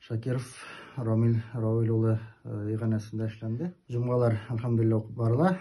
Шакиров Рамил Равил улы иганәсендә эшләнде. Җомгалар, әлхәмдулилла, укып барыла.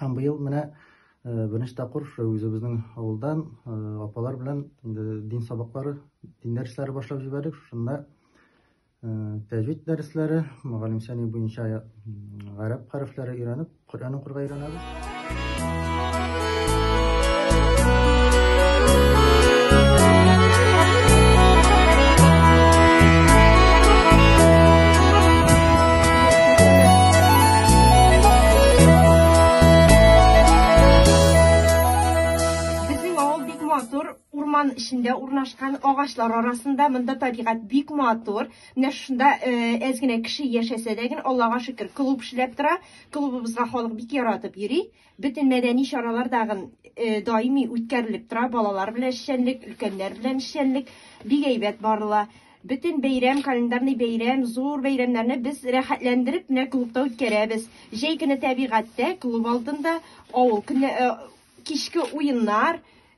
Һәм быел менә беренче тапкыр үзебезнең авылдан апалар белән дин сабаклары, дин дәресләре башлап җибәрдек. Шунда тәҗвид дәресләре, мөгаллимсәни буенча гарәп хәрефләре өйрәнеп, Коръән укырга өйрәнәбез. Урман эчендә урнашкан агачлар арасында монда табигать бик матур. Менә шунда әз генә кеше яшәсә дә генә, Аллага шөкер, клуб эшләп тора. Клубыбызга халык бик яратып йөри. Бөтен мәдәни чаралар тагын даими үткәрелеп тора. Балалар белән эшчәнлек, өлкәннәр белән эшчәнлек бик әйбәт барыла. Бөтен бәйрәм, календарный бәйрәм, зур бәйрәмнәрне без рәхәтләндереп менә клубта үткәрәбез. Җәй көне тәбигатьтә, клуб алдында авыл көне, кичке уеннар,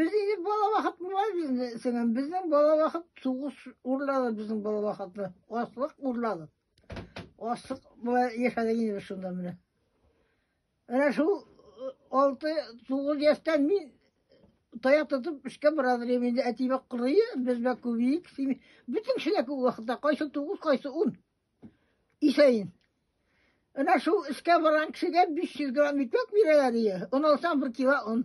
Безнең бала вакыт була безнең. Безнең бала вакыт сугыш урлады безнең бала вакытны. Аслык урлады. Аслык була яшәдек инде шунда менә. Менә шул 6-9 яшьтән мин таяк тотып эшкә бара дим инде. Әтибә кырые, безбә күбик. Бөтен кешеләр күп вакытта кайсы 9, кайсы 10. Исәйин. Әнә шул эшкә барган кешегә 500 грамм икмәк бирәләр дия, он алсаң бер кило он.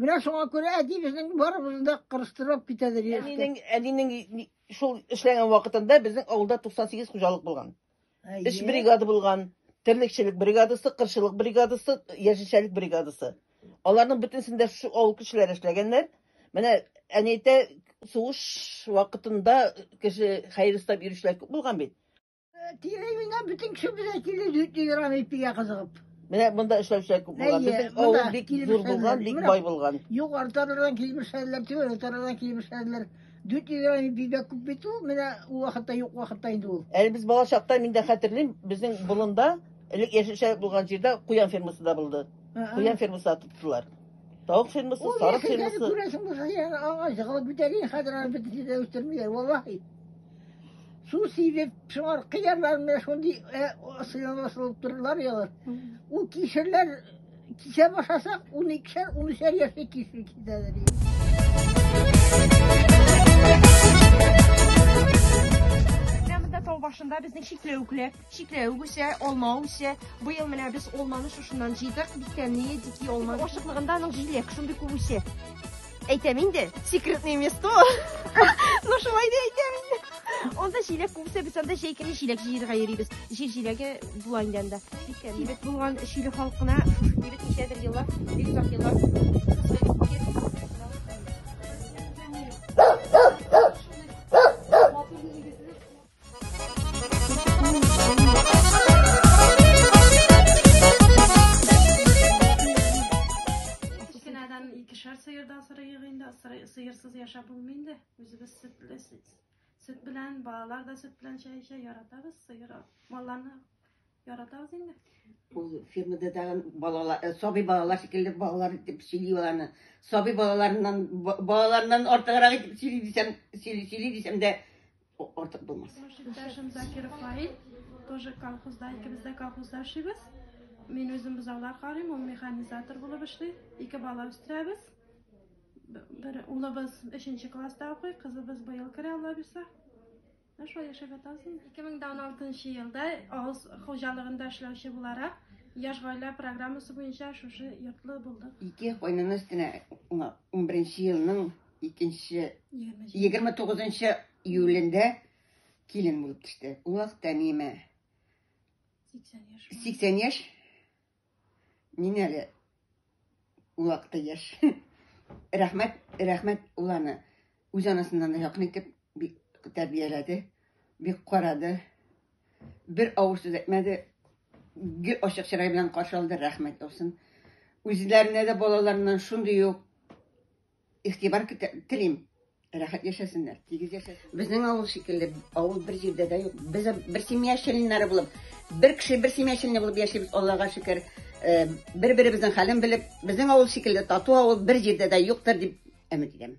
Менә шуңа күрә әти безнең барыбызны да кырыстырып китәдер яшькә. Әнинең, әнинең шул эшләгән вакытында безнең авылда 98 хуҗалык булган. Эш бригада булган, терлекчелек бригадасы, кырчылык бригадасы, яшелчәлек бригадасы. Аларның бөтенсен дә шушы авыл кешеләре эшләгәннәр. Менә әни әйтә, сугыш вакытында кеше хәер эстәп йөрүчеләр күп булган бит. Тиле мина бөтен кеше безгә тиле дөрти торган ипигә кызыгып. Менә монда эшләүчеләр күп булган. Әйе, Безнең монда авыл бик зур килмешәннәр. булган, бик Менә бай булган. Юк артардан килмешәннәр, түбән артардан килмешәннәр. Дөрти торган ипигә күп бит ул, менә ул вакытта юк вакытта инде ул. Әле без бала чакта мин дә хәтерлим, безнең болында, элек яшелчә булган җирдә куян фермасы да булды. Куян фермасы тоттылар. Тавык фермасы, сарык фермасы. Ул күрәсең булса, ягы агач җыгылып бетәргә, хәзер аны бөтенесе дә үстермиләр, валлаһи. Су сибеп, шуңар кыярлар менә шундый сыйлап асылып тордылар ягыр. Ул кишерләр кисә башласак, 12-шәр, 13-шәр яшьле кишер кисәләр. Тау башында безнең чикләвекләр. Чикләвек үсә, алма үсә. Быел менә без алманы шушыннан җыйдык. Бик тәмле, дики алма. Ашыклыгында аның җиләк шундый күп үсә. Әйтәм инде, секретное место. Ну шулай да әйтәм инде. Анда җиләк күп үсә, без анда җәй көне җиләк җыерга йөрибез. Җир җиләге була инде анда. Бик тәмле. Кибет булган Чиле халкына шушы кибет ничәдер еллар, бик озак еллар сыйырсыз яшәп булмый инде. Үзебез сөтле, сөт белән, балалар да сөт белән чәй эчә, яратабыз сыйыр, малларны яратабыз инде. Ул фермада тагын балалар, э, сабый балалар шикелле балалар дип сөйли аланы. Сабый балаларыннан балаларыннан артыграк дип сөйли дисәм, сөйли дисәм дә Артык булмас. Иптәшем Закиров Фаил, тоже колхозда, икебез дә колхозда эшлибез. Мин үзем бозаулар карыйм, ул механизатор булып эшли. Ике бала үстерәбез. Бер улыбыз 3 класста укый, кызыбыз быел керә, Алла бирсә. Ә шулай яшәп ятабыз. 2016 елда авыз хуҗалыгында эшләүче буларак Яш гаилә программасы буенча шушы йортлы булдык. Ике кайнана өстенә 11 елның икенче 29 июлендә килен булып төште. Ул вакытта миемә 80 яшь. 80 яшь. Мин әле ул вакытта яшь. Рәхмәт, рәхмәт ул аны үз анасыннан да якын итеп бик тәрбияләде, бик карады. Бер авыр сүз әйтмәде. Гел ачык чырай белән каршы алды, рәхмәт булсын. Үзләренә дә балаларыннан шундый ук Игътибар көтә, телим. Рәхәт яшәсеннәр, тигез яшәсен. Безнең авыл шикелле, авыл бер җирдә дә юк. Без бер семья членнары булып, бер кеше бер семья члены булып яшибез, Аллага шөкер. Э, Бер-беребезнең хәлен белеп, безнең авыл шикелле тату авыл бер җирдә дә юктыр дип өмет итәм.